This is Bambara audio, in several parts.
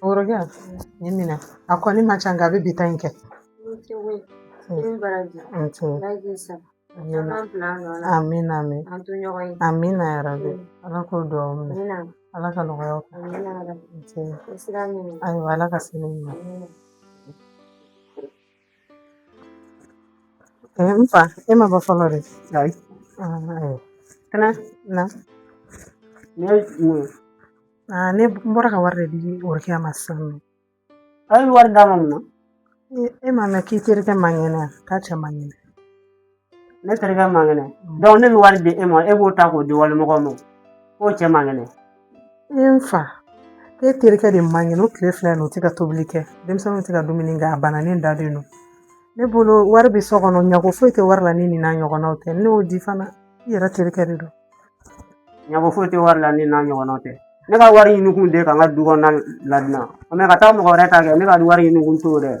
Kɔrɔkɛ nin minɛ a kɔni man ca nka a bɛ bi ta in kɛ. Amina amin amina yarabi ala k'o dugawu minɛ ala ka nɔgɔyaw kɛ ayiwa ala ka sini ɲuman n fa e ma ban fɔlɔ de ayi kana na ne aa ne bɔra ka wari de di orokiya ma sisan nɔ a ye wari d'a ma mun na e m'a mɛn k'i terikɛ man kɛnɛ k'a cɛ man kɛnɛ ne terikɛ man kɛnɛ dɔnku ne bɛ wari di e ma e b'o ta k'o di walimɔgɔ ma k'o cɛ man kɛnɛ e n fa e terikɛ de man kɛnɛ o tile fila in o tɛ ka tobili kɛ denmisɛnninw tɛ ka dumuni kɛ a bananen dalen don ne bolo wari bɛ so kɔnɔ ɲago foyi tɛ wari la ni nin n'a ɲɔgɔnnaw tɛ ne y'o di fana i yɛrɛ terikɛ de don ɲago foyi tɛ wari la ni n'a ɲɔgɔnnaw tɛ ne ka wari ɲini kun de ka n ka du kɔnɔna ladilan mɛ ka taa mɔgɔ wɛrɛ ta kɛ ne ka wari ɲini kun t'o dɛ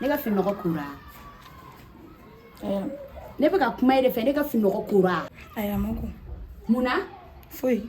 ne ka fininɔgɔ kora ne bɛ ka kuma e de fɛ ne ka fininɔgɔ kora mun na foyi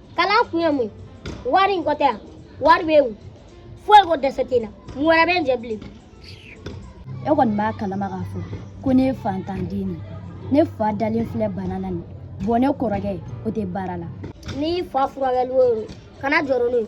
kalan kun ye mun wariko tɛ yan wari bɛ n kun foyi ko dɛsɛ tɛ n na mun wɛrɛ bɛ n jɛ bilen e kɔni b'a kalama k'a fɔ ko ne ye faantan den de ne fa dalen filɛ bana na nin bɔn ne kɔrɔkɛ o tɛ baara la n'i fa furakɛli o kana jɔrɔ n'o ye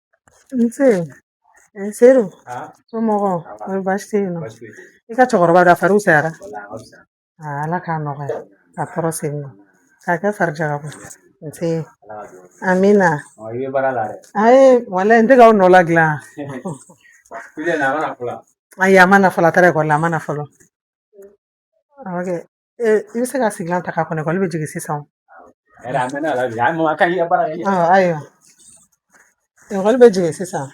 Nse sedu somɔgɔw kɔni baasi tɛ yen nɔ i ka cɛkɔrɔba ka fari fisayara ala k'a nɔgɔya ka kɔrɔ sen nɔ k'a kɛ farijaka bɔ nse amina ayi wala n tɛ ka nɔ la dilan ayi a ma na fɔlɔ a taara ekɔli la a ma na fɔlɔ Ee i bɛ se ka sigilan ta k'a kɔnɔ ekɔli bɛ jigin sisan Yɛrɛ a mɛnna la bi a ma ka ɲɛ baara kɛ ɔ ayiwa ekɔli bɛ jigin sisan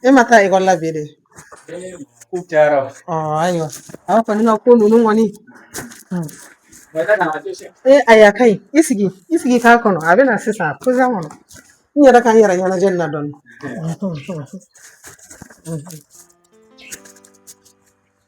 e ma taa ekɔli la bi de ko cayara ɔ ayiwa aw kɔni ka ko ninnu kɔni hmm. mɛ ne kana to sɛ ee ayi a ka ɲi i sigi i sigi k'a kɔnɔ a bɛ na sisan a posa kɔnɔ n yɛrɛ ka n yɛrɛ ɲɛnajɛ nin na dɔɔni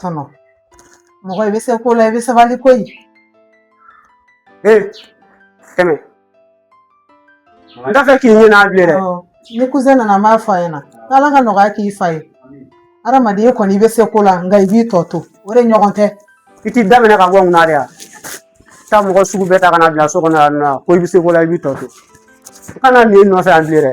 tɔnɔ mɔgɔ i bɛ se ko la i bɛ sabali ko ye ee tɛmɛ n t'a fɛ k'i ye yan bilen dɛ ni kuzɛn nana n b'a fɔ a ɲɛna n'ala ka nɔgɔya k'i fa ye adamaden kɔni i bɛ se ko la nka i b'i tɔ to o de ɲɔgɔn tɛ i t'i daminɛ ka bɔ ŋuna de yan taa mɔgɔ sugu bɛɛ ta ka na bila so kɔnɔ yan nɔ ko i bɛ se ko la i b'i tɔ to kana na n nɔfɛ yan bilen dɛ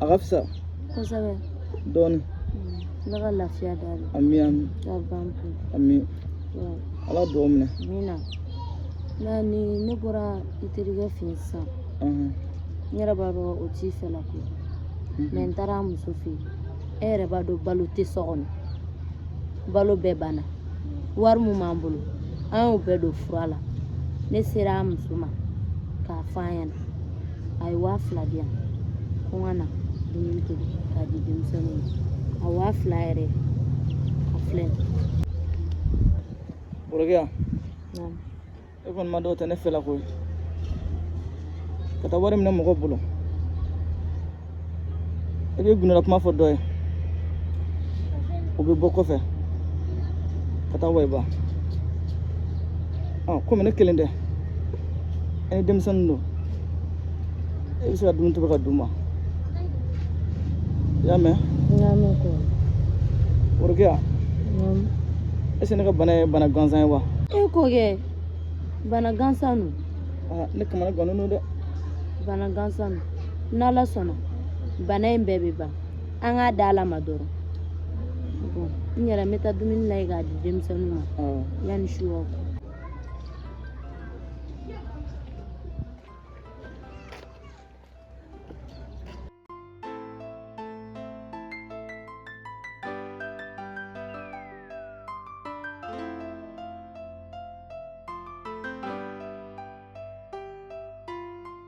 a ka fisa kosɛbɛ dɔɔni ala ka lafiya d'a ma ami ami ka ban pewu ami ala duwaw minɛ amiina nka ni ne bɔra i terikɛ fɛ yen sisan n yɛrɛ b'a dɔn o t'i fɛla komi n taara a muso fɛ yen e yɛrɛ b'a dɔn balo tɛ so kɔnɔ balo bɛɛ banna wari min b'an bolo an y'o bɛɛ don fura la ne sera a muso ma k'a fɔ a ɲɛna a ye waa fila di yan ko n ka na dumuni tobi k'a di denmisɛnninw ma a waa fila yɛrɛ a filɛ worokiya e kɔni b'a dɔn o tɛ ne fɛla koyi ka taa wari minɛ mɔgɔ bolo i bɛ gundo la kuma fɔ dɔ ye o bɛ bɔ kɔfɛ ka taa wayiba ɔ komi ne kelen tɛ ani denmisɛnninw don e bɛ se ka dumuni tobi k'a d'u ma i y'a mɛn worokiya est ce que ne ka bana ye bana gansan ye wa e ko kɛ bana gansan don ne kamana gannen don dɛ bana gansan don n'ala sɔnna bana in bɛɛ bɛ ban an k'a da ala ma dɔrɔn n yɛrɛ n bɛ taa dumuni lajɛ k'a di denmisɛnninw ma yanni su ka ko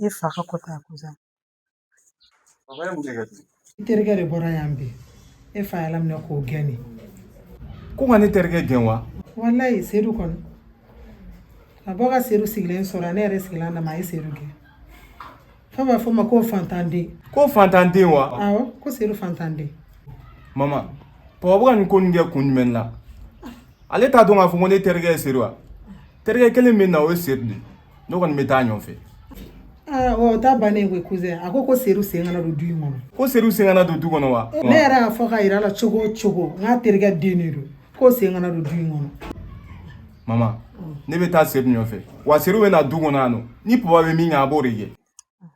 i fa ka ko t'a ko sa i terikɛ de bɔra yan bi e fa y'a laminɛ k'o gɛn de ko ka ne terikɛ gɛn wa walayi sedu kɔni a bɔ ka sedu sigilen sɔrɔ ne yɛrɛ sigilen dama a ye sedu gɛn fo a b'a fɔ a ma ko fantanden ko fantanden wa awɔ ko sedu fantanden mama papa bɛ ka nin ko nin kɛ kun jumɛn na ale t'a dɔn k'a fɔ ko ne terikɛ ye sedu wa terikɛ kelen min na o ye sedu de ye ne kɔni bɛ taa a nɔfɛ aa ɔ o ta bannen koyi kuzɛn a ko ko sedu sen kana don du in kɔnɔ ko sedu sen kana don du kɔnɔ wa ne yɛrɛ y'a fɔ k'a yira a la cogo o cogo k'a terikɛ den de don k'o sen kana don du in kɔnɔ mama ne bɛ taa sedu nɔfɛ wa sedu bɛ na du kɔnɔ yan nɔ ni papa bɛ min kɛ a b'o de kɛ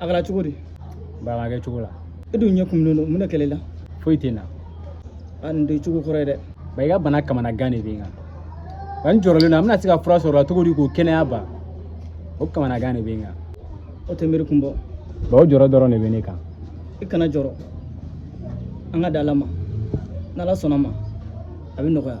a kɛra cogo di ba a ma kɛ cogo la e dun ɲɛ kumunen don mun de kɛra e la foyi tɛ n na a nin t'i cogo kɔrɔ ye dɛ ba i ka bana kamanagan de bɛ n kan ba n jɔrɔlen don an bɛna se ka fura sɔrɔ i la cogo di k'o kɛnɛya ba o kamanagan de bɛ n kan o tɛ miiri kun bɔ ba o jɔrɔ dɔrɔn de bɛ ne kan i kana jɔrɔ an k'a da ala ma n'ala sɔnna a ma a bɛ nɔgɔya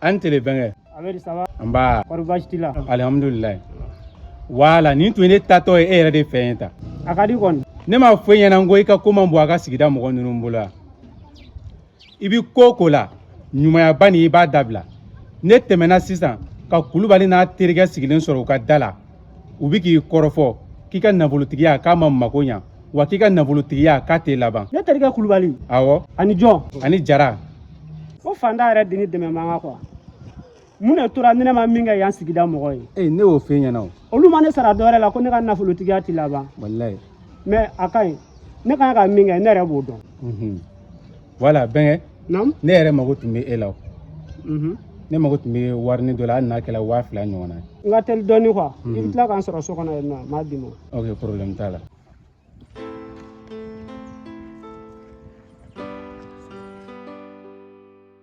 a ni tile bɛnkɛ nba alihamudulila wala nin tun ye ne taatɔ ye e yɛrɛ de fɛ yen ta a ka di kɔni ne m'a fɔ e ɲɛna n ko i ka ko man bon an ka sigida mɔgɔ ninnu bolo yan i bi ko o ko la ɲumayaba nin i b'a dabila ne tɛmɛna sisan ka kulubali n'a terikɛ sigilen sɔrɔ u ka da la u bɛ k'i kɔrɔfɔ k'i ka nafolotigiya k'a ma mako ɲa wa k'i ka nafolotigiya k'a tɛ laban ne terikɛ kulubali awɔ ani jɔn ani jara ko faantan yɛrɛ de ni dɛmɛ man kan kuwa mun de tora ni ne ma min kɛ yan sigida mɔgɔ ye ee ne y'o f'e ɲɛna o olu ma ne sara dɔwɛrɛ la ko ne ka nafolotigiya ti laban walayi mɛ a ka ɲi ne kan ka min kɛ ne yɛrɛ b'o dɔn wala bɛnkɛ ne yɛrɛ mago tun bɛ e la ne mago tun bɛ warini dɔ la hali n'a kɛra waa fila ɲɔgɔn na n ka teli dɔɔni kuwa i bɛ tila ka n sɔrɔ so kɔnɔ yen nɔ n b'a d'i ma ok problème t'a la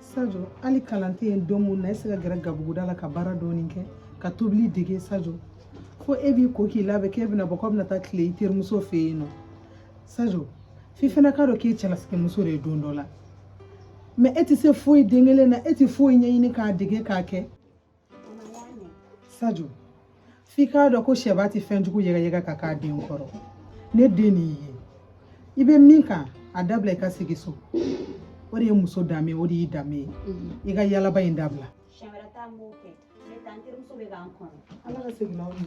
sajo hali kalan tɛ yen don min na e se ka gɛrɛ gabuguda la ka baara dɔɔni kɛ ka tobili dege sajo fo e b'i ko k'i labɛn k'e bɛna bɔ k'aw bɛna taa tile i terimuso fɛ yen nɔ sajo f'i fana k'a dɔn k'e cɛlasigimuso de ye don dɔ la mɛ e tɛ se foyi den kelen na e tɛ foyi ɲɛɲini k'a dege k'a kɛ sajo f'i k'a dɔn ko sɛba ti fɛn jugu yɛgɛyɛgɛ ka k'a den kɔrɔ ne den de i ye i bɛ min kan a dabila i ka sigi so o de ye muso danbe ye o de y'i danbe ye mm-hmm. i ka yalaba in dabila. siɲɛ wɛrɛ ta n b'o kɛ ne taa n terimuso bɛ ka n kɔnɔ. ala ka segin n'aw ye.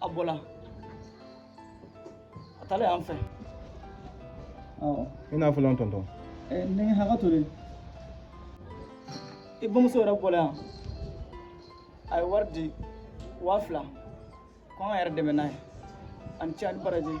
A bɔla. A taalen yan fɛ. Awɔ. I ni wula tonton. Ɛɛ ne hakɛ to dɛ. I bamuso yɛrɛ bɔla yan. A ye wari di waa fila ko an k'an yɛrɛ dɛmɛ n'a ye a ni ce a ni baraji.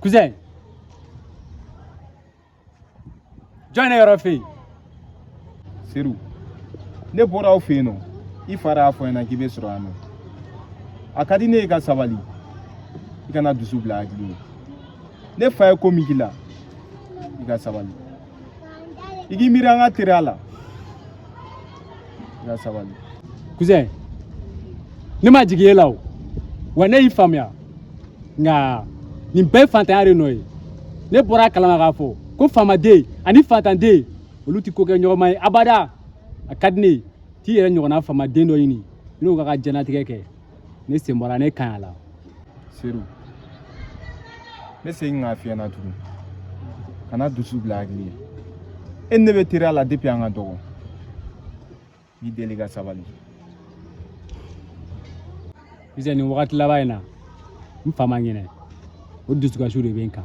Kuzɛn. Jɔn ne yɔrɔ fɛ yen. Seru. Ne bɔra aw fɛ yen nɔ. I fa y'a fɔ n ɲɛna k'i bɛ sɔrɔ yan nɔ. A ka di ne ye i ka sabali. I kana dusu bila hakili ye. Ne fa ye ko min k'i la, i ka sabali. i k'i miiri an ka teriya la i ka sabali cousin ne ma jigin e la o wa ne y'i faamuya nka nin bɛɛ ye fantanya de nɔ ye ne bɔra a kalama k'a fɔ ko faamaden ani fantanden olu tɛ kokɛɲɔgɔnma ye abada a ka di ne ye t'i yɛrɛ ɲɔgɔnna faamaden dɔ ɲini i n'o ka ka jɛnatigɛ kɛ ne sen bɔra ne kan a la seru ne segin k'a fiyɛ na tugun kana dusu bila hakili ye e ni ne bɛ teriya la depuis an ka dɔgɔ n'i deli ka sabali Sisan nin wagati laban in na n fa ma ɲinɛ o dusukasiw de bɛ n kan